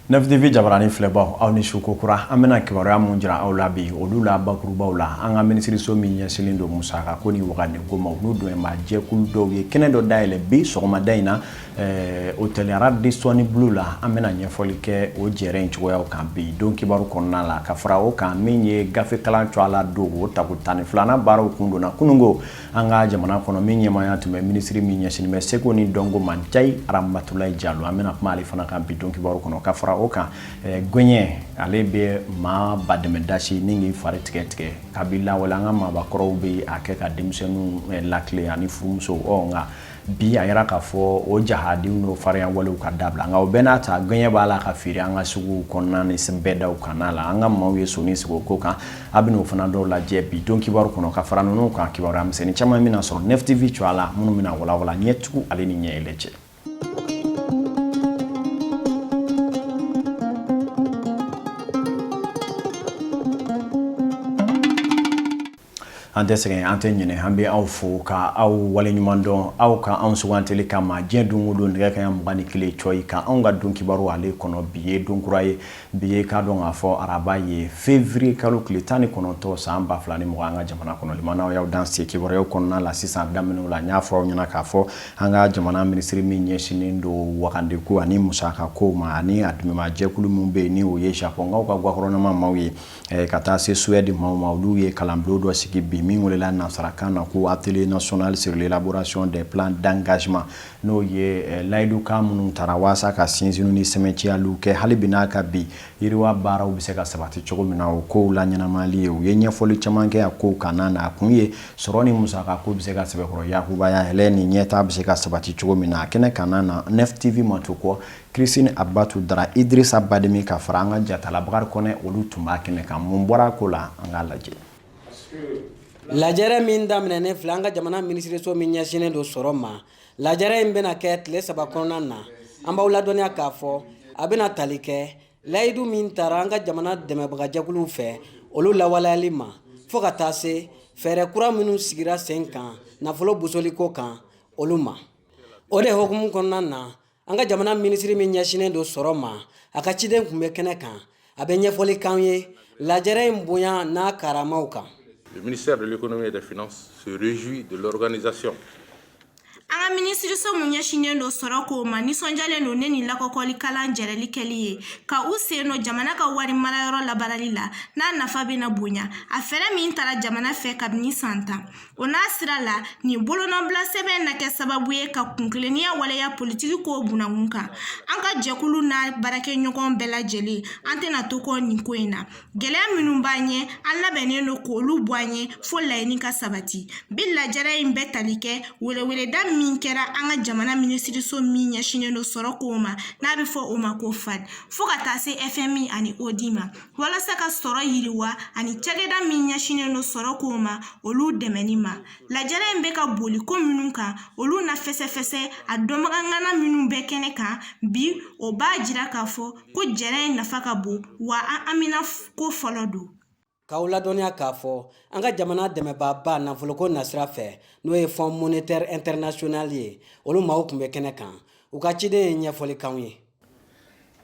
nefitivi jabarani filɛbaw aw ni su kokura an bɛna kibaruya mun jira aw la bi olu la bakurubaw la an ka minisiriso min ɲɛsilen don musaka ko ni wagande ko ma u n'u dɛmɛba jɛkulu dɔw ye kɛnɛ dɔ dayɛlɛ bi sɔgɔmada in na ɛɛ hôtel Radisson Blu la an bɛna ɲɛfɔli kɛ o jɛrɛ in cogoyaw kan bi don kibaru kɔnɔna la ka fara o kan min ye gafe kalan cɔ a la don o tako tan ni filanan baaraw kun donna kununko an ka jamana kɔnɔ min ɲɛmaaya tun bɛ minisiri min ɲɛsinnen bɛ seko ni dɔnko ma Njayi Aramatulayi Jalo an bɛna kuma ale fana kan bi don kibaru kɔnɔ ka fara o kan ɛɛ gɔɲɛ ale bɛ maa badɛmɛ dasi ni k'i fari tigɛ tigɛ kabi lawale an ka maabakɔrɔw bɛ a kɛ ka denmisɛnninw latilen ani furumuso ɔ nka Bi a yira k'a fɔ o jahadiw n'o farinya walew ka dabila nka o bɛɛ n'a ta gɔɲɛ b'a la ka feere an ka suguw kɔnɔna ni bɛdaw kan na an ka maaw ye sɔni sigi o ko kan an bɛn'o fana dɔw lajɛ bi don kibaru kɔnɔ ka fara ninnu kan kibaruya misɛnnin caman bɛna sɔrɔ nefitivi cɔ a la minnu bɛna walawala ɲɛtugu ale ni ɲɛ yɛlɛ cɛ an tɛ sɛgɛn an tɛ ɲinɛ an bɛ aw fo ka aw waleɲuman dɔn aw ka anw sugantili kama diɲɛ don o don nɛgɛ kanɲɛ mugan ni kelen cɔyi ka anw ka don kibaru ale kɔnɔ bi ye don kura ye bi ye k'a dɔn k'a fɔ araba ye février kalo tile tan ni kɔnɔntɔn san ba fila ni mugan an ka jamana kɔnɔ limanaw y'aw danse kibaruyaw kɔnɔna la sisan daminɛw la n y'a fɔ aw ɲɛna k'a fɔ an ka jamana minisiri min ɲɛsinnen don wagande ko ani musaka kow ma ani a dɛmɛbajɛkulu min bɛ yen ni o ye japɔnkaw ka gofɛrɛnama maaw ye ka taa se Suède maaw ma olu ye kalanbulon dɔ sigi bi min welela nasarakan na ko atelier national sur l'élaboration des plans d'engagement n'o ye layidukan minnu tara walasa ka sinsin ni sɛmɛnciyali kɛ hali bi n'a ka bi yiriwa baaraw bɛ se ka sabati cogo min na o kow laɲɛnamali ye u ye ɲɛfɔli caman kɛ a kow kan na a kun ye sɔrɔ ni musaka ko bɛ se ka sɛbɛkɔrɔ yakubaya yɛlɛ ni ɲɛtaa bɛ se ka sabati cogo min na a kɛnɛ kan na nefitivi ma to kɔ Christine Abatu Dara Idirisa Bademi ka fara an ka jatala Bakari Kɔnɛ olu tun b'a kɛnɛ kan mun bɔra ko la an k'a lajɛ lajɛrɛ min daminɛnen filɛ an ka jamana minisiriso min ɲɛsinnen don sɔrɔ ma lajɛrɛ in bɛna kɛ tile saba kɔnɔna na an b'aw ladɔnniya k'a fɔ a bɛna tali kɛ layidu min tara an ka jamana dɛmɛbagajɛkuluw fɛ olu lawaleyali ma fo ka taa se fɛɛrɛ kura minnu sigira sen kan nafolo bosoliko kan olu ma o de hukumu kɔnɔna na an ka jamana minisiri min ɲɛsinnen don sɔrɔ ma a ka ciden tun bɛ kɛnɛ kan a bɛ ɲɛfɔli k'an ye lajɛrɛ in bonya n'a karamaw kan Le ministère de l'économie et des finances se réjouit de l'organisation an ka minisiriso min ɲɛsinnen don sɔrɔ kow ma nisɔndiyalen don ne ni lakɔgɔli kalan jɛrɛli kɛli ye ka u sen don jamana ka wari marayɔrɔ labaarali la n'a nafa bɛna bonya a fɛɛrɛ min tara jamana fɛ kabini san tan O n'a sira la nin bolonɔbila sɛbɛn na kɛ sababu ye ka kuntilenniya waleya politiki ko bunakun kan an ka jɛkulu n'a baarakɛɲɔgɔn bɛɛ lajɛlen an tɛna to kɔ nin ko in na gɛlɛya minnu b'an ɲɛ an labɛnnen don k'olu bɔ an ye fo laɲini ka sabati bi lajɛrɛ in bɛ tali kɛ weleweleda min kɛra an ka jamana minisiriso min ɲɛsinnen don sɔrɔ kow ma n'a bɛ fɔ o ma ko fad fo ka taa se fmi ani odi ma walasa ka sɔrɔ yiriwa ani cakɛda min ɲɛsinnen don sɔrɔ kow ma olu dɛmɛni ma lajɛrɛ in bɛ ka boli ko minnu kan olu na fɛsɛfɛsɛ a dɔnbaga ŋana minnu bɛ kɛnɛ kan bi o b'a jira k'a fɔ ko jɛrɛ in nafa ka bon wa an a mina ko fɔlɔ don k'aw ladɔnniya k'a fɔ an ka jamana dɛmɛbaaba nafoloko nasira fɛ n'o ye fonds monétaire international ye olu maaw tun bɛ kɛnɛ kan u ka ciden ye ɲɛfɔli k'anw ye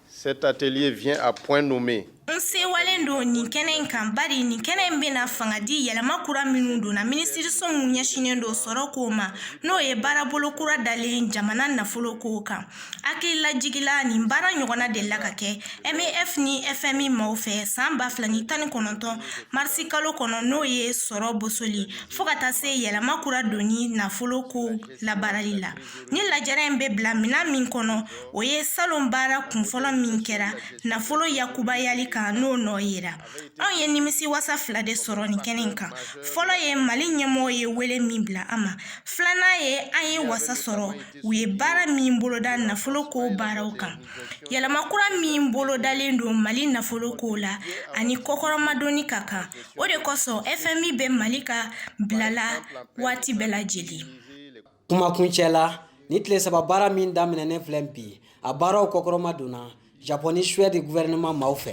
Cet atelier vient à point nommé. N sewalen don nin kɛnɛ in kan bari nin kɛnɛ in bɛna fanga di yɛlɛma kura minnu donna minisiriso min ɲɛsinnen don sɔrɔ kow ma n'o ye baarabolo kura dalen jamana nafolo kow kan hakililajigila nin baara ɲɔgɔnna delila ka kɛ mef ni fmi maaw fɛ san ba fila ni tan ni kɔnɔntɔn marisi kalo kɔnɔ n'o ye sɔrɔ bosoli fo ka taa se yɛlɛma kura donni nafolo kow labaarali la Nin lajɛrɛ in bɛ bila minɛn min kɔnɔ o ye salon baara kunfɔlɔ min kɛra nafolo yakubayali kan n'o nɔ yera anw ye nimisi wasa fila de sɔrɔ nin kɛnɛ in kan fɔlɔ ye mali ɲɛmɔgɔ ye wele min bila an ma filanan ye an ye wasa sɔrɔ u ye baara min boloda nafolo ko baaraw kan yɛlɛma kura min bolodalen don mali nafolo ko la ani kɔkɔrɔmadonni ka kan o de kosɔn fmi bɛ mali ka bila la waati bɛɛ lajɛlen kuma kuncɛ la nin tile saba baara min daminɛnen filɛ bi a baaraw kɔkɔrɔma donna japɔn ni suwɛdi guvɛrɛnɛman maaw fɛ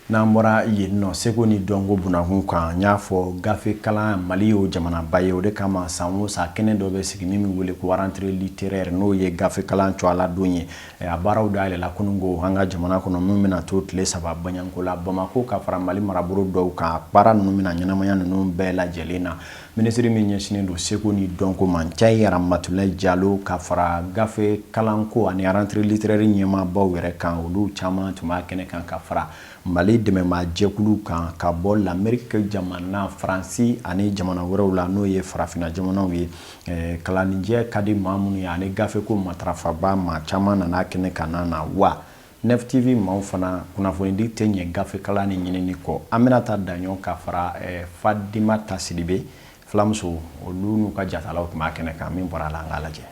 n'an bɔra yen nɔ seko ni dɔnko bunakun kan n'i y'a fɔ gafe kalan mali y'o jamanaba ye o de kama san o san kɛnɛ dɔ bɛ sigi min bɛ wele ko rentrée littéraire n'o ye gafe kalan tɔgɔla don ye A baaraw dayɛlɛla kunungo an ka jamana kɔnɔ min bɛna to tile saba baɲko la bamakɔ ka fara mali marabolo dɔw kan baara ninnu bɛna ɲɛnamaya ninnu bɛɛ lajɛlen na minisiri min ɲɛsinnen don seko ni dɔnko ma njayi ramatulayi jalo ka fara gafe kalanko ani rentrée littéraire ɲɛmaabaw yɛrɛ kan olu caman tun b'a kɛnɛ kan ka fara mali dɛmɛmaa jɛkulu kan ka bɔ lameriki jamana faransi ani jamana wɛrɛw la n'o ye farafinna jamanaw ye Ɛɛ kalannijɛ ka di maa minnu ye ani gafe ko matarafaba maa caman nana kɛnɛ kan na wa Nef TV maaw fana kunnafonidi tɛ ɲɛ gafekalan ni ɲinini kɔ an bɛna taa Daɲɔ ka fara Fadimata Sidibe filamuso olu n'u ka jatalaw tun b'a kɛnɛ kan min bɔra a la an ka lajɛ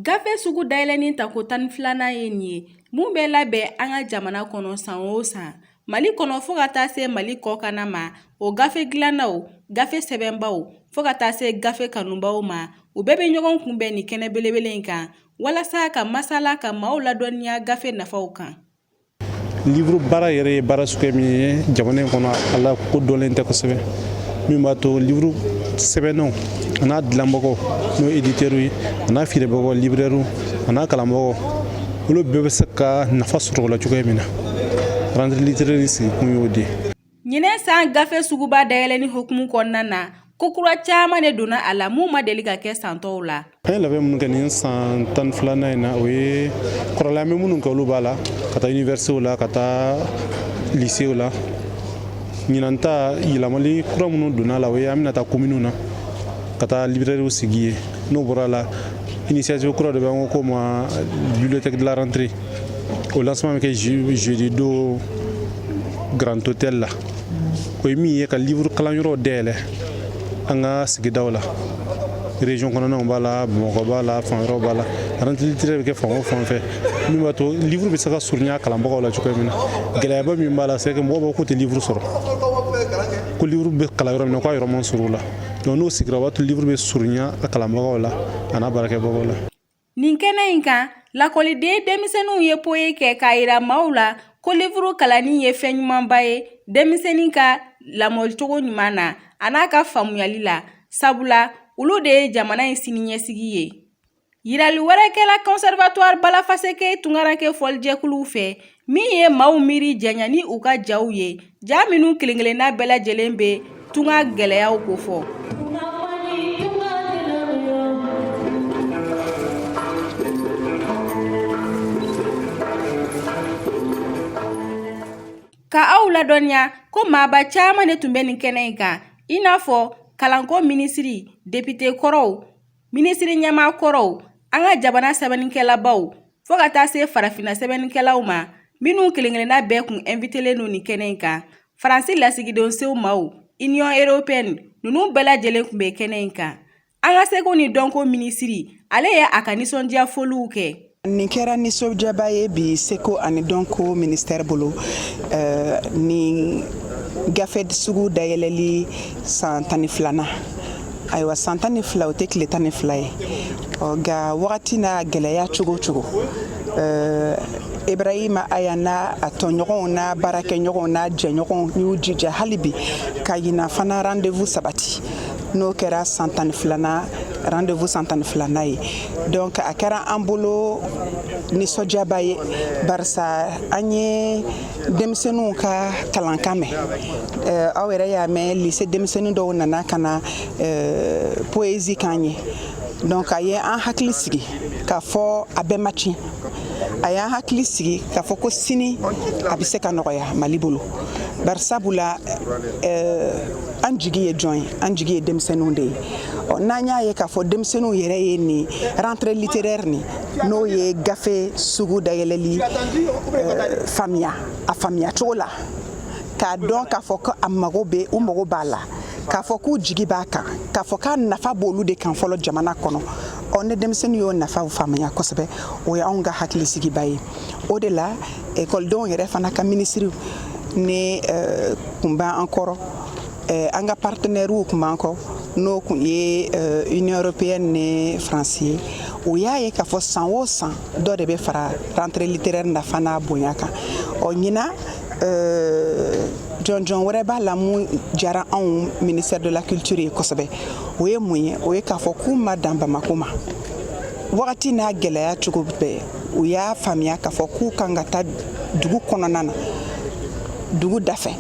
Gafe sugu dayɛlɛni tako tan ni filanan ye nin ye mun bɛ labɛn an ka jamana kɔnɔ san o san mali kɔnɔ fo ka taa se mali kɔkanna ma o gafe dilannaw gafe sɛbɛnbaaw fo ka taa se gafe kanubaaw ma u bɛɛ bɛ ɲɔgɔn kunbɛn nin kɛnɛ belebele in kan walasa ka masala ka maaw ladɔnniya gafe nafaw kan livuru baara yɛrɛ ye baara suguya min ye jamana in kɔnɔ a lakodɔnlen tɛ kosɛbɛ min b'a to livuru sɛbɛnnaw a n'a dilanbagaw n'o editɛriw ye a n'a feerebagaw librɛriw a n'a kalanbagaw olu bɛɛ bɛ se ka nafa sɔrɔ o la cogoya min na rantire literɛri sigikun y'o de ye Ɲinɛ san gafe suguba dayɛlɛni hukumu kɔnɔna na, ko kura caman de donna a la mun ma deli ka kɛ san tɔw la. An ye labɛn minnu kɛ nin san tan filanan in na o ye kɔrɔlen an bɛ minnu kɛ olu b'a la ka taa inivɛrisitew la ka taa lisew la ɲinan ta yɛlɛmali kura minnu donna a la o ye an bɛna taa kominiw na ka taa libirɛriw sigi yen n'o bɔra a la inisiyativu kura de bɛ an ko o ma bibiliyotɛki de la rantire O lancement bɛ kɛ jeudi don Grand Hôtel la o ye min ye ka livre kalanyɔrɔw dayɛlɛ an ka sigidaw la région kɔnɔnaw b'a la Bamakɔ b'a la fan wɛrɛw b'a la rentrée bɛ kɛ fan o fan fɛ min b'a to livre bɛ se ka surunya kalanbagaw la cogoya min na gɛlɛyaba min b'a la c'est que mɔgɔw b'a fɔ k'u tɛ livre sɔrɔ ko livre bɛ kalan yɔrɔ min na k'a yɔrɔ man surun u la donc n'o sigira o b'a to livre bɛ surunya a kalanbagaw la a n'a baarakɛbagaw la Nin kɛnɛ in kan lakɔliden denmisɛnninw ye poyi kɛ k'a yira maaw la ko livuru kalanni ye fɛn ɲumanba ye denmisɛnnin ka lamɔcogo ɲuman na a n'a ka faamuyali la sabula olu de ye jamana in siniɲɛsigi ye yirali wɛrɛ kɛla conservatoire Bala Faseke tunkarankɛ fɔlijɛkuluw fɛ Min ye maaw miiri janya ni u ka jaw ye ja minnu kelenkelenna bɛɛ lajɛlen bɛ tunga gɛlɛyaw kofɔ ka aw ladɔnniya ko maaba caman de tun bɛ nin kɛnɛ in kan i n'a fɔ kalanko minisiri depite kɔrɔw minisiri ɲɛmaa kɔrɔw an ka jamana sɛbɛnnikɛlabaw fo ka taa se farafinna sɛbɛnnikɛlaw ma minw kelen-kelenna bɛɛ kun ɛnvitelen don nin kɛnɛ in kan faransi lasigidenso maaw iniyɔn eropeyɛni ninnu bɛɛ lajɛlen kun bɛ kɛnɛ in kan an ka seko ni dɔnko minisiri ale ye a ka nisɔndiya foliw kɛ Nin kɛra nisɔndiyaba ye bi seko ani dɔnko ministère bolo eh, nin gafe sugu dayɛlɛli san tan ni filanan ayiwa san tan ni fila o tɛ tile tan ni fila ye nka wagati n'a gɛlɛya cogo cogo eh, ibrahima aya n'a a tɔɲɔgɔnw n'a baarakɛɲɔgɔnw n'a jɛɲɔgɔnw y'u jija hali bi ka ɲinan fana rendez-vous sabati n'o kɛra san tan ni filanan rendez-vous san tan ni filanan ye donc a kɛra an bolo nisɔndiyaba ye barisa an ye denmisɛnninw ka kalankan mɛn euh, aw yɛrɛ y'a mɛn lycée denmisɛnnin dɔw nana ka na euh, poésie k'an ye donc a ye an hakili sigi k'a fɔ a bɛɛ ma tiɲɛ a y'an hakili sigi k'a fɔ ko sini a bɛ se ka nɔgɔya mali bolo barisabula euh, an jigi ye jɔn ye an jigi ye denmisɛnninw de ye ɔ n'an y'a ye k'a fɔ denmisɛnninw yɛrɛ ye nin rentrée littéraire nin n'o ye gafe sugu dayɛlɛli euh, faamuya a faamuya cogo la k'a dɔn k'a fɔ ko a mago bɛ u mago b'a la k'a fɔ k'u jigi b'a kan k'a fɔ k'a nafa b'olu de kan fɔlɔ jamana kɔnɔ ɔ ni denmisɛnnin y'o nafaw faamuya kosɛbɛ o ye anw ka hakilisigiba ye o de la ekɔlidenw yɛrɛ fana ka minisiri nin eh, kun b'an kɔrɔ eh, an ka partenɛriw kun b'an kɔrɔ n'o kun ye eh, union européenne ni faransi ye o y'a ye k'a fɔ san o san dɔ de bɛ fara rentrée littéraire nafa n'a bonya kan ɔ ɲinan jɔnjɔn wɛrɛ b'a la mun diyara anw ministère de la culture ye kosɛbɛ o ye mun ye o ye k'a fɔ k'u ma dan bamako ma wagati n'a gɛlɛya cogo bɛɛ u y'a faamuya k'a fɔ k'u kan ka taa dugu kɔnɔna na dugu dafɛ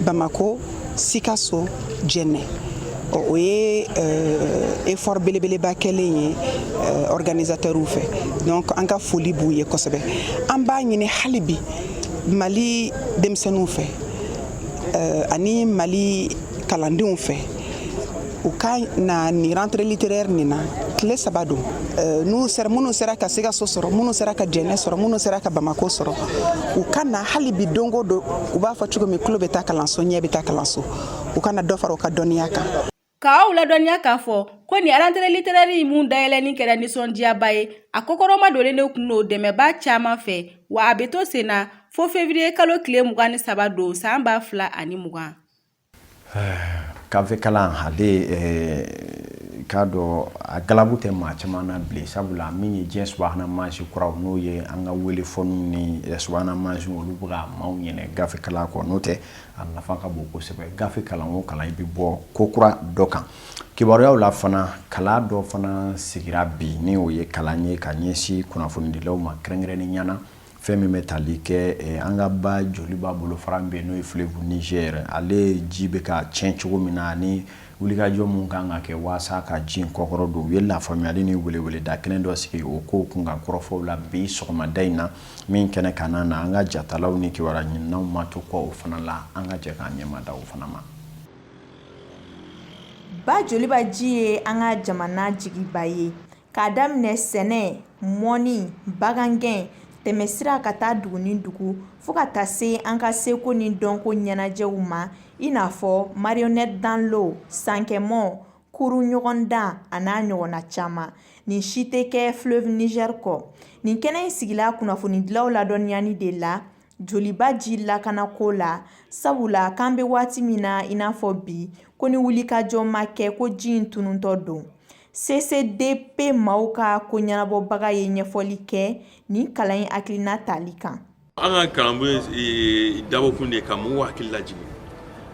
bamako sikaso jɛnɛ o ye euh, effort belebeleba kɛlen ye euh, organisatɛrw fɛ donc an ka foli b'u ye kosɛbɛ an b'a ɲini hali bi mali denmisɛnninw fɛ euh, ani mali kalandenw fɛ u ka na nin rentrée littéraire nin na tile saba don euh, n'u sera minnu sera ka sikaso sɔrɔ minnu sera ka jɛnɛ sɔrɔ minnu sera ka bamako sɔrɔ u ka na hali bi don o don u b'a fɔ cogo min tulo bɛ taa kalanso ɲɛ bɛ taa kalanso u ka na dɔ fara u ka dɔnniya kan k'aw ladɔnniya k'a fɔ ko nin rentrée littéraire min dayɛlɛni kɛra nisɔndiyaba ye a kɔkɔrɔma donnen de kun don dɛmɛbaa caman fɛ wa a bɛ to sen na fo fevriye kalo tile mugan ni saba don san ba fila ani mugan Gafe kalan ale k'a dɔn a galabu tɛ maa caman na bilen sabula min ye diɲɛ subahana mansi kuraw n'o ye an ka wele fɔniw ni subahana mansi olu bɛ ka maaw ɲinɛ gafe kalan kɔ n'o tɛ a nafa ka bon kosɛbɛ gafe kalan o kalan i bɛ bɔ ko kura dɔ kan kibaruyaw la fana kalan dɔ fana sigira bi ni o ye kalan ye ka ɲɛsin kunnafonidilaw ma kɛrɛnkɛrɛnnenya na fɛn min bɛ tali kɛ eh, an ka ba joliba bolofara min bɛ yen n'o ye fleuve Niger ale ji bɛ ka tiɲɛ cogo min na ani wulikajɔ mun kan ka kɛ waasa ka ji in kɔkɔrɔdon u ye lafaamuyali ni weleweleda kɛnɛ dɔ sigi o kow kun kan kɔrɔfɔw la bi sɔgɔmada in na min kɛnɛ ka na na an ka jatalaw ni kibaruya ɲininaw ma to kɔ o fana la an ka jɛ k'an ɲɛmada o fana ma. Ba joliba ji ye an ka jamana jigiba ye. k'a daminɛ sɛnɛ mɔni bagangɛn tɛmɛsira ka taa dugu ni dugu fo ka taa se an ka seko ni dɔnko ɲɛnajɛw ma i n'a fɔ marionnette dans l'eau sankɛmɔ kuru ɲɔgɔndan a n'a ɲɔgɔnna caman nin si tɛ kɛ fleuve niger kɔ nin kɛnɛ in sigila kunnafonidilaw ladɔnniyani de la joliba ji lakanako la sabula k'an bɛ waati min na i n'a fɔ bi ko ni wulikajɔ ma kɛ ko ji in tununtɔ don CCDP maaw ka ko ɲɛnabɔbaga ye ɲɛfɔli kɛ nin kalan in hakilina tali kan. An ka kalanbolo in eh, dabɔkun de ye ka mɔgɔw hakili lajigin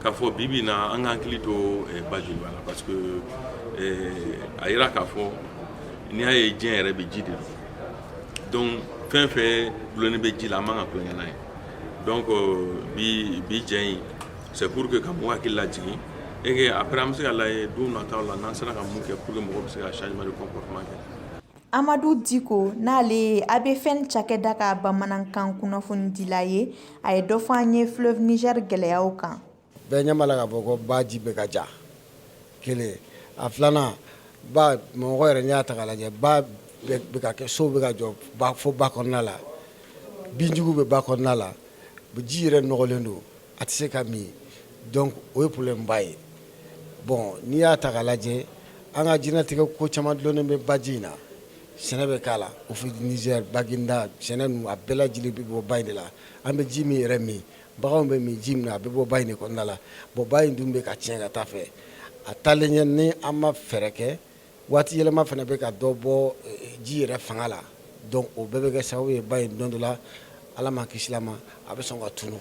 k'a fɔ bi bi na an ka hakili to eh, ba joliba la parce que eh, a yira k'a fɔ n'i y'a ye diɲɛ yɛrɛ bɛ ji de don donc fɛn fɛn dulonnen bɛ ji la an man ka tulon kɛ n'a ye donc bi bi jɛ in C'est pour que ka mɔgɔw hakili lajigin et que après an bɛ se ka lajɛ don nataw la n'an sera ka mun kɛ pour que mɔgɔw bɛ se ka changement de comportement kɛ. Amadu Diko n'ale ye ABFN cakɛda ka bamanankan kunnafonidila ye, a ye dɔ fɔ an ye fleuve Niger gɛlɛyaw kan. Bɛɛ ɲɛ b'a la k'a fɔ ko ba ji bɛ ka ja, kelen, a filanan ba mɔgɔ yɛrɛ n'i y'a ta k'a lajɛ ba bɛ ka kɛ so bɛ ka jɔ fo ba kɔnɔna la, binjugu bɛ ba kɔnɔna la, ji yɛrɛ nɔgɔlen don. a tɛ se ka min donc o ye problème ba ye bon n'i y'a ta k'a lajɛ an ka diɲɛnatigɛ ko caman dulonnen bɛ baji in na sɛnɛ bɛ k'a la Office Niger Baginda sɛnɛ ninnu a bɛɛ lajɛlen bɛ bɔ ba in de la an bɛ ji min yɛrɛ min baganw bɛ min ji min na a bɛ bɔ ba in de kɔnɔna la bon ba in dun bɛ ka tiɲɛ ka taa fɛ a taalen ɲɛ ni an ma fɛɛrɛ kɛ waati yɛlɛma fana bɛ ka dɔ bɔ ji yɛrɛ fanga la donc o bɛɛ bɛ kɛ sababu ye ba in don dɔ la ala m'an kisil'a ma a bɛ sɔn ka tunun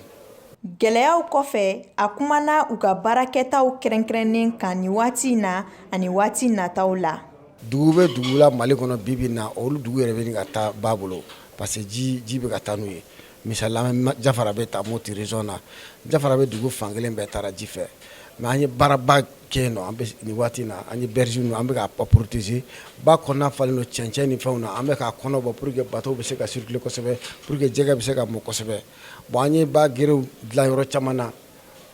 gɛlɛyaw kɔfɛ a kumana u ka baarakɛtaw kɛrɛnkɛrɛnnen kan nin waati in na ani waati nataw la dugu bɛ dugu la mali kɔnɔ bibi na olu dugu yɛrɛ bɛ ka taa ba bolo parce que ji ji bɛ ka taa n'u ye Misali jafarabɛ ta Mopti région na jafarabɛ dugu fan kelen bɛɛ taara ji fɛ mais an ye baaraba kɛ yen nɔ an bɛ nin waati in na an ye berge ninnu an bɛ k'a protéger ba kɔnɔna falen don cɛncɛn ni fɛnw na an bɛ k'a kɔnɔ bɔ pour que bateau bɛ se ka circuler kosɛbɛ pour que jɛgɛ bɛ se ka mɔ kosɛbɛ bon an ye ba gerew dilan yɔrɔ caman na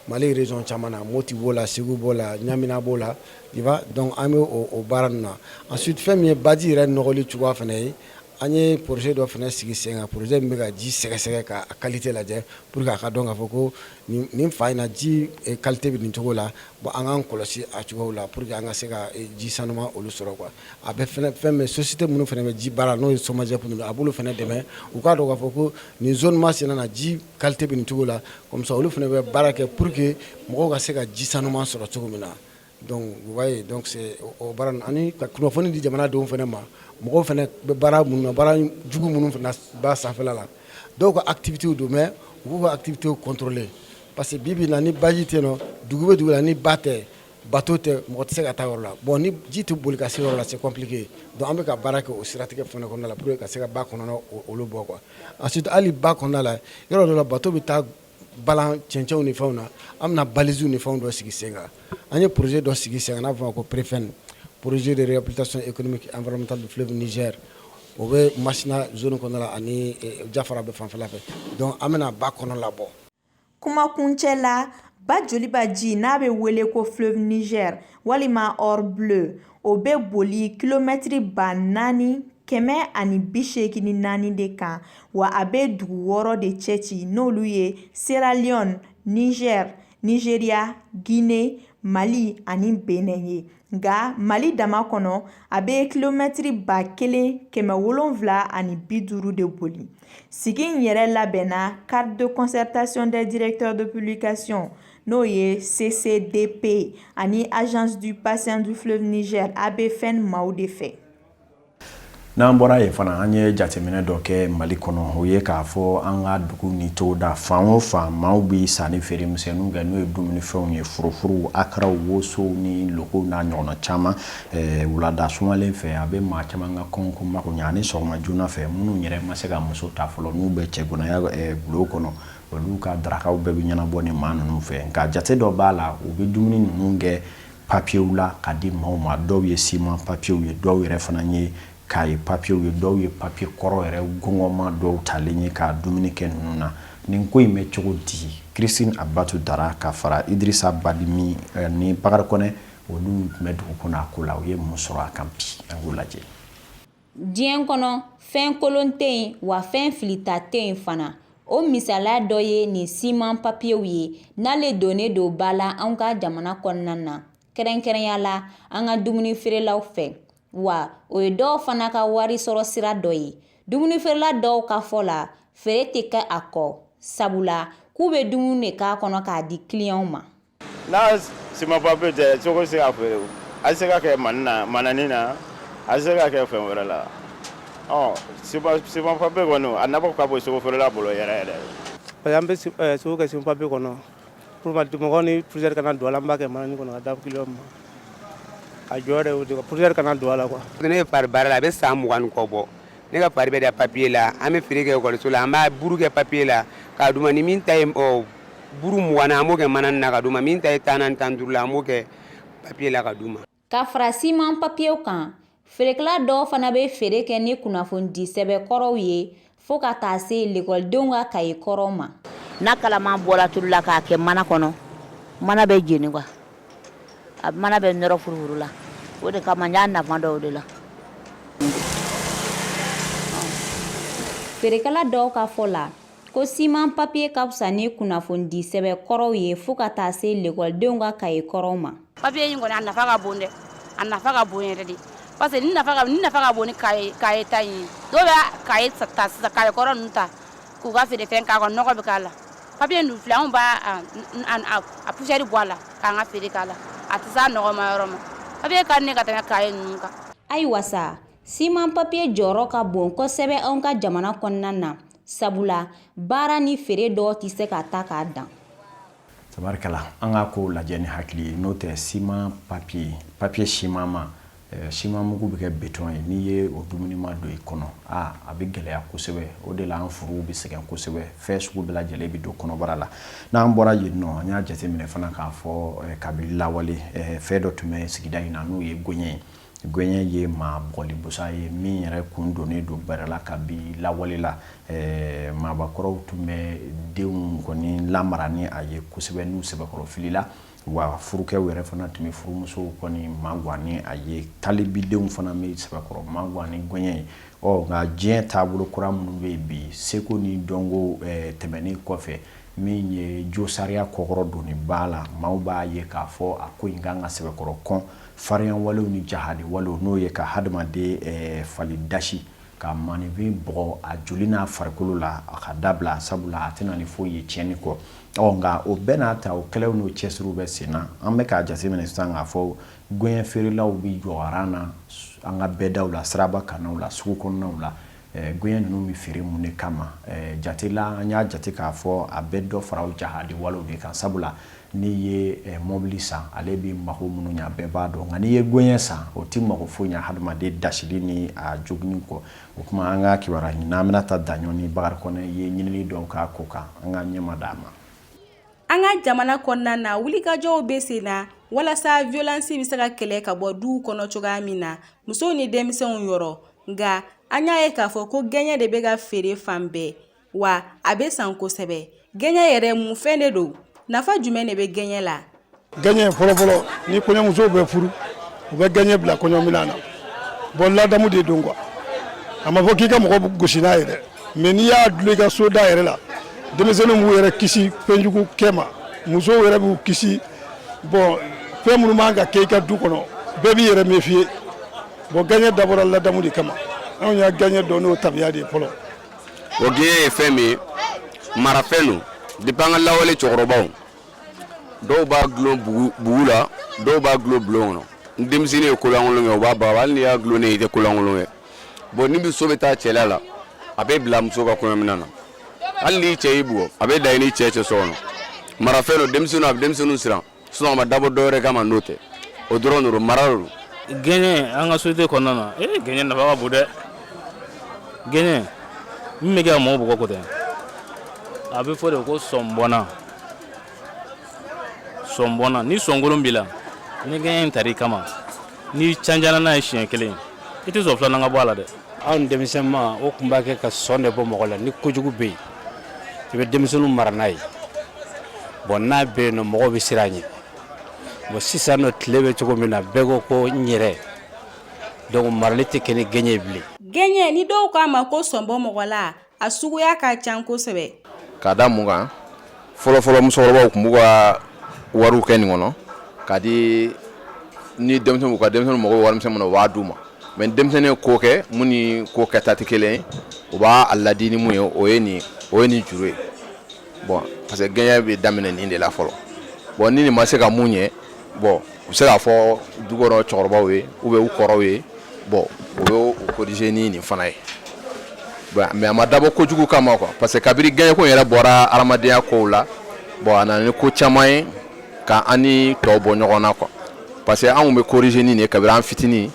Mali région caman na Mopti b'o la Segu b'o la Ɲamina b'o la tu vois donc an bɛ o o baara ninnu na ensuite fɛn min ye baji yɛrɛ nɔgɔli cogoya fana ye an ye projet dɔ fana sigi sen kan projet min bɛ ka ji sɛgɛsɛgɛ k'a qualité lajɛ pour que a ka dɔn k'a fɔ ko nin nin fan in na ji qualité bɛ nin cogo la bon an k'an kɔlɔsi a cogoyaw la pour que an ka se ka ji sanuman olu sɔrɔ quoi a bɛ fɛnɛ fɛn bɛ société minnu fana bɛ ji baara n'o ye Somagep ninnu a b'olu fana dɛmɛ u k'a dɔn k'a fɔ ko nin zone masina na ji qualité bɛ nin cogo la Comme ça olu fana bɛ baara kɛ pour que mɔgɔw ka se ka ji sanuman sɔrɔ cogo min na donc vous voyez donc c'est o baara ani ka kunnafoni di jamanadenw fana ma mɔgɔw fana bɛ baara minnu baara jugu minnu fana ba sanfɛla la dɔw ka activitéw don mais u k'u ka activitéw contrôler parce que bi bi in na ni baji tɛ nɔ dugu bɛ dugu la ni ba tɛ Bateau tɛ mɔgɔ tɛ se ka taa yɔrɔ la bon ni ji tɛ boli ka se yɔrɔ la c'est compliqué donc an bɛ ka baara kɛ o siratigɛ fana kɔnɔna la pour que ka se ka ba kɔnɔna olu bɔ quoi ensuite hali ba kɔnɔna la yɔrɔ dɔ la bateau bɛ taa balan cɛncɛnw ni fɛnw na an bɛna balisew ni fɛnw dɔ sigi sen kan an ye projet dɔ sigi sen kan n'a fɔ ko PREEFN projet de réhabilitation économique et environnementale du fleuve Niger o bɛ masina zone kɔnɔna la ani jafarabɛ fanfɛla fɛ donc an bɛna ba kɔnɔ labɔ kumakuncɛ la ba joliba ji n'a bɛ wele ko fleuve niger walima or bleu o bɛ boli kilomɛtiri ba naani kɛmɛ ani bi seegin ni naani de kan wa a bɛ dugu wɔɔrɔ de cɛci n'olu ye sierra leone niger nigeria guinee mali ani benin ye nka mali dama kɔnɔ a bɛ kilomɛtiri ba kelen kɛmɛ wolonwula ani bi duuru de boli sigi in yɛrɛ labɛnna cadre de concertation des directeurs de publication n'o ye ccdp ani agence du bassin du fleuve niger abfn maaw de fɛ n'an bɔra yen fana an ye jateminɛ dɔ kɛ mali kɔnɔ o ye k'a fɔ an ka dugu ni togoda fan o fan maaw bɛ sanni feere misɛnninw kɛ n'o ye dumunifɛnw ye furufuruw akaraw wosow ni lokow n'a ɲɔgɔnna caman eh, wulada sumalen fɛ a bɛ maa caman ka kɔngɔko mako ɲɛ ani sɔgɔma joona fɛ minnu yɛrɛ ma se ka muso ta fɔlɔ n'u bɛ cɛganaya eh, bulon kɔnɔ olu ka darakaw bɛɛ bɛ ɲɛnabɔ nin maa ninnu fɛ nka jate dɔ b'a la u bɛ dumuni ninnu kɛ papiyew la ka di maaw ma dɔw ye siman papiyew ye dɔw yɛrɛ fana ye kaye papiyew ye dɔw ye papiye kɔrɔ yɛrɛ gɔngɔnma dɔw talen ye ka dumuni kɛ ninnu na nin ko in bɛ cogo di christine abatu dara ka fara idirisa badimi eh, ni bakari kɔnɛ olu tun bɛ dugu kɔnɔ a ko la u ye mun sɔrɔ a kan bi an k'o lajɛ diɲɛ kɔnɔ fɛn kolon tɛ yen wa fɛn filita tɛ yen fana o misaliya dɔ ye nin siman papiyew ye n'ale donnen don ba la an ka jamana kɔnɔna na kɛrɛnkɛrɛnya la an ka dumuni feerelaw fɛ wa o ye dɔw fana ka wari sɔrɔ sira dɔ ye dumuni feerela dɔw ka fɔ la feere tɛ kɛ a kɔ sabula k'u bɛ dumuni de k'a kɔnɔ k'a di kiliyanw ma N'a siman papiye tɛ sogo se ka feere a se ka kɛ manani na a se ka kɛ fɛn wɛrɛ la siman papiye kɔni a nafa ka bon sogo feerela bolo yɛrɛ yɛrɛ parce que an bɛ sogo kɛ siman papiye kɔnɔ dimɔgɔ ni poussière kana don a la an b'a kɛ manani kɔnɔ k'a di kiliyan ma a jɔyɔrɔ ye o poussière kana don a la kuwa ne ye fari baara la a bɛ san mugan kɔ bɔ ne ka fari bɛ da papiye la an bɛ feere kɛ ekɔliso la an b'a buru kɛ papiye la k'a d'u ma ni min ta ye ɔ, buru mugan na an b'o kɛ manani na k'a d'u ma min ta ye tan na ni tan duuru la an b'o kɛ papiye la k'a d'u ma ka fara siman papiyew kan feerekɛla dɔw fana bɛ feere kɛ ni kunnafonidi sɛbɛn kɔrɔw ye fo ka taa se lekɔlidenw ka kaye kɔrɔw ma n'a kalaman bɔra tulu la k'a kɛ mana kɔnɔ mana bɛ jeni kuwa A mana bɛ nɔrɔ furufuru la o de kama n y'a nafa dɔn o de la feerekɛla dɔw ka fɔ la ko siman papiye ka fisa ni kunnafonidi sɛbɛn kɔrɔw ye fo ka taa se lekɔlidenw ka kaye kɔrɔw ma papiye in kɔni a nafa ka bon dɛ a nafa ka bon yɛrɛ de parce que nafa ka bon ni kaye ta ye dɔw bɛ kaye kɔrɔ ta K'u ka feere fɛn k'a kɔnɔ nɔgɔ bɛ k'a la papiye ninnu filɛ anw b'a a poussière bɔ a la k'an ka feere k'a la a tɛ s'a nɔgɔma yɔrɔ ma papiye ka di ne ka tɛmɛ kaye ninnu kan. Ayiwa sa, siman papiye jɔyɔrɔ ka bon kosɛbɛ anw ka jamana kɔnɔna na, sabula baara ni feere dɔw tɛ se ka taa k'a dan. tabarikala an ka kow lajɛ ni hakili ye n'o tɛ siman papiye papiye simanma eh, siman mugu bɛ kɛ beton ye n'i ye o dumunima don i kɔnɔ a a bɛ gɛlɛya kosɛbɛ o de la an furuw bɛ sɛgɛn kosɛbɛ fɛn sugu bɛɛ lajɛlen bɛ don kɔnɔbara la n'an bɔra yen nɔ an y'a jateminɛ fana k'a fɔ eh, kabini lawale eh, fɛn dɔ tun bɛ sigida in na n'o ye gɛɲɛ ye Gɛɲɛ ye maa bugɔli busa ye min yɛrɛ kun dɔnnen don bɛrɛ la kabi lawale la maakɔrɔw tun bɛ denw kɔni lamara ni a ye kosɛbɛ n'u sɛbɛkɔrɔ filila wa furukɛ yɛrɛ fana tun bɛ furumuso kɔni magan n'a ye talibidenw fana bɛ sɛbɛkɔrɔ magan ni gɛɲɛ ye ɔ nka diɲɛ taabolo kura minnu bɛ yen bi seko ni dɔnko tɛmɛnen kɔfɛ min ye josariya kɔkɔrɔdon ba la maaw b'a ye k'a fɔ a ko in ka kan ka sɛbɛkɔrɔ kɔn Farinya walew ni jahadi walew n'o ye ka hadamaden eh, fali dasi ka maninfin bugɔ a joli n'a farikolo la a ka dabila sabula a tɛna ni foyi ye tiɲɛni kɔ ɔ nka o bɛɛ n'a ta o kɛlɛw n'o cɛsiriw bɛ sen na an bɛ k'a jateminɛ sisan k'a fɔ gɛɲɛ feerelaw bɛ jɔ aran na an ka bɛdaw la siraba kannaw la sugu kɔnɔnaw la Gɛɲɛ ninnu bɛ feere mun de kama jate la an y'a jate k'a fɔ a bɛ dɔ fara o jahadi wale de kan sabula n'i ye mɔbili san ale bɛ mago minnu ɲɛ bɛɛ b'a dɔn nka n'i ye gɛɲɛ san o tɛ mago foyi ɲɛ hadamaden dasili ni a joginni kɔ o tuma an ka kibaruɲinina Binta Daɲɔgɔ ni Bakari Kɔnɛ ye ɲinini dɔw k'a ko kan an ka ɲɛma d'a ma an ka jamana kɔnɔna na wulikajɔw bɛ sen na walasa violence bɛ se ka kɛlɛ ka bɔ du kɔnɔ cogoya min na musow ni denmisɛnw yɔrɔ nka an y'a ye k'a fɔ ko gɛɲɛ de bɛ ka feere fan bɛɛ wa a bɛ san kosɛbɛ gɛɲɛ yɛrɛ mun fɛn de don nafa jumɛn de bɛ gɛɲɛ la gɛɲɛ fɔlɔfɔlɔ ni kɔɲɔmusow bɛ furu u bɛ gɛɲɛ bila kɔɲɔminan na bon ladamu de don quoi a ma fɔ k'i ka mɔgɔ gosi n'a ye dɛ mais n'i y'a dulon i ka so da yɛrɛ la denmisɛnninw b'u yɛrɛ kisi fɛnjugu kɛ ma musow yɛrɛ b'u kisi bon fɛn minnu man ka kɛ i ka du kɔnɔ bɛɛ b'i yɛrɛ méfier Bon gɛɲɛ dabɔra ladamu de kama anw ye gɛɲɛ dɔn n'o tabiya de ye fɔlɔ o gɛɲɛ ye fɛn min ye marafɛn don depuis an ka lawale cɛkɔrɔbaw dɔw b'a gulon bugu la dɔw b'a gulon bulon kɔnɔ ni denmisɛnnin ye kolankolon kɛ u b'a baga hali n'i y'a gulonnen ye i tɛ kolankolon kɛ bon ni muso bɛ taa cɛla la a bɛ bila muso ka kɔɲɔminan na hali n'i cɛ y'i bugɔ a bɛ da i n'i cɛ cɛ so kɔnɔ marafɛn don denmisɛnninw a bɛ denmisɛnninw siran sinon a ma dabɔ dɔ wɛrɛ kama n'o tɛ o dɔrɔn de don mara de don gɛɲɛ an ka société kɔnɔna na ee eh, gɛɲɛ nafa ka bon dɛ gɛɲɛ min bɛ kɛ ka mɔgɔw bugɔ ko tɛ a bɛ fɔ de ko sɔnbɔnna sɔnbɔnna ni sɔnkolon b'i la ni gɛɲɛ in tar'i kama n'i canjana n'a ye siɲɛ kelen i tɛ sɔn filanan ka bɔ a la dɛ anw denmisɛnma o tun b'a kɛ ka sɔn de bɔ mɔgɔ la ni kojugu bɛ yen i bɛ denmisɛnninw mara n'a ye bon n'a bɛ yen nɔ mɔgɔw bɛ siran a ɲɛ bon sisan nɔ tile bɛ cogo min na bɛɛ ko ko n yɛrɛ donc marali tɛ kɛ ni gɛɲɛ ye bilen gɛɲɛ ni dɔw k'a ma ko sɔnbɔ mɔgɔ la a suguya ka ca kosɛbɛ ka da mun kan fɔlɔfɔlɔ musokɔrɔbaw tun b'u ka wariw kɛ nin kɔnɔ ka di ni denmisɛnninw ka denmisɛnninw mago bɛ warimisɛn min na u b'a d'u ma mais ni denmisɛnnin ye ko kɛ mun ni ko kɛta tɛ kelen ye u b'a ladi ni mun ye o ye nin o ye nin juru ye bon parce que gɛɲɛ bɛ daminɛ nin de la fɔlɔ bon ni nin ma se ka mun ɲɛ bon u se k'a fɔ dukɔnɔ cɛkɔrɔbaw ye ou bien u kɔrɔw ye bon u bɛ u corriger ni nin fana ye mais a ma dabɔ kojugu kama quoi parce que kabiri gɛɲɛko yɛrɛ bɔra hadamadenya kow la bon a nana ni ko caman ye ka an ni tɔw bɔ ɲɔgɔn na quoi parce que anw bɛ corriger ni nin de kabiri an fitinin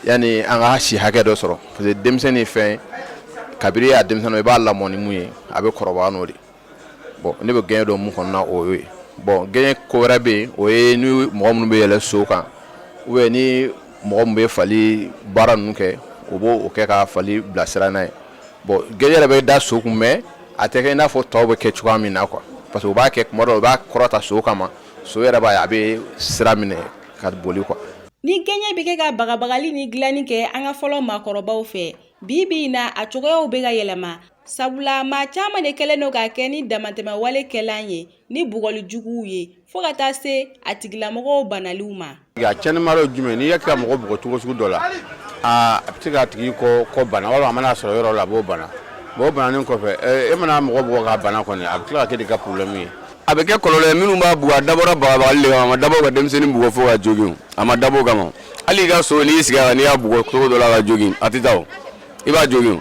yanni an ka si hakɛ dɔ sɔrɔ parce que denmisɛnnin ye fɛn ye kabiri a denmisɛnnin i b'a lamɔ ni mun ye a bɛ kɔrɔbaya n'o de bon ne bɛ gɛɲɛ dɔn mun kɔnɔna o y'o ye bon gɛɲɛ ko wɛrɛ bɛ yen o ye ni mɔgɔ minnu bɛ yɛlɛ so kan ou bien ni mɔgɔ min bɛ fali baara ninnu kɛ o b'o kɛ ka fali bilasira n'a ye bon gɛɲɛ yɛrɛ bɛ da so kun mais a tɛ kɛ i n'a fɔ tɔw bɛ kɛ cogoya min na quoi parce que u b'a kɛ kuma dɔ u b'a kɔrɔta so kama so yɛrɛ b'a ye a bɛ sira minɛ ka boli quoi ni gɛɲɛ bɛ kɛ ka bagabagali ni dilanni kɛ an ka fɔlɔ maakɔrɔbaw fɛ bi bi in na a cogoyaw bɛ ka yɛlɛma sabula maa caman de kɛlen don k'a kɛ ni damatɛmɛwale kɛlan ye ni bugɔli juguw ye fo ka taa se a tigilamɔgɔw banaliw ma nka cɛma jumɛn n'i y'a kɛ ka mɔgɔ bugɔ cogo sugu dɔ la a bɛ se k'a tigi kɔ bana a mana sɔrɔ yɔrɔ la a b'o bana bon o bananen kɔfɛ e mana mɔgɔ bugɔ k'a bana kɔni a bɛ tila ka kɛ de ka problème ye a bɛ kɛ kɔlɔlɔ ye minnu b'a bugɔ a dabɔra bagabagali de kama a ma dabɔ ka denmisɛnnin bugɔ fo k'a jogin a ma dabɔ o kama hali i ka so n'i sigi a kan n'i y'a bugɔ cogo dɔ la k'a jogin a tɛ taa i b'a jogin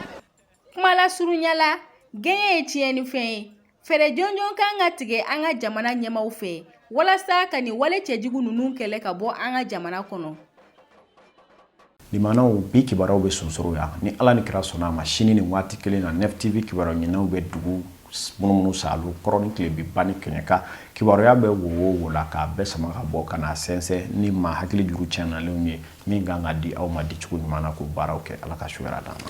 kuma lasurunya la gɛɲɛ ye tiɲɛnifɛn ye fɛɛrɛ jɔnjɔn kan ka tigɛ an ka jamana ɲɛmaw fɛ walasa ka nin wale cɛjugu ninnu kɛlɛ ka bɔ an ka jamana kɔnɔ Limanaw bi kibaruyaw bɛ sonsoro yan ni ala ni kira sɔnna a ma sini ni waati kelen na Nef TV kibaruya ɲininaw bɛ dugu munumunu salo kɔrɔn ni tilebin ba ni kɛɲɛka kibaruya bɛ wo o wo la k'a bɛɛ sama ka bɔ ka na sɛnsɛn ni maa hakili juru tiɲɛnalenw ye min kan ka di aw ma di cogo ɲuman na k'o baaraw kɛ ala ka su hɛrɛ d'an ma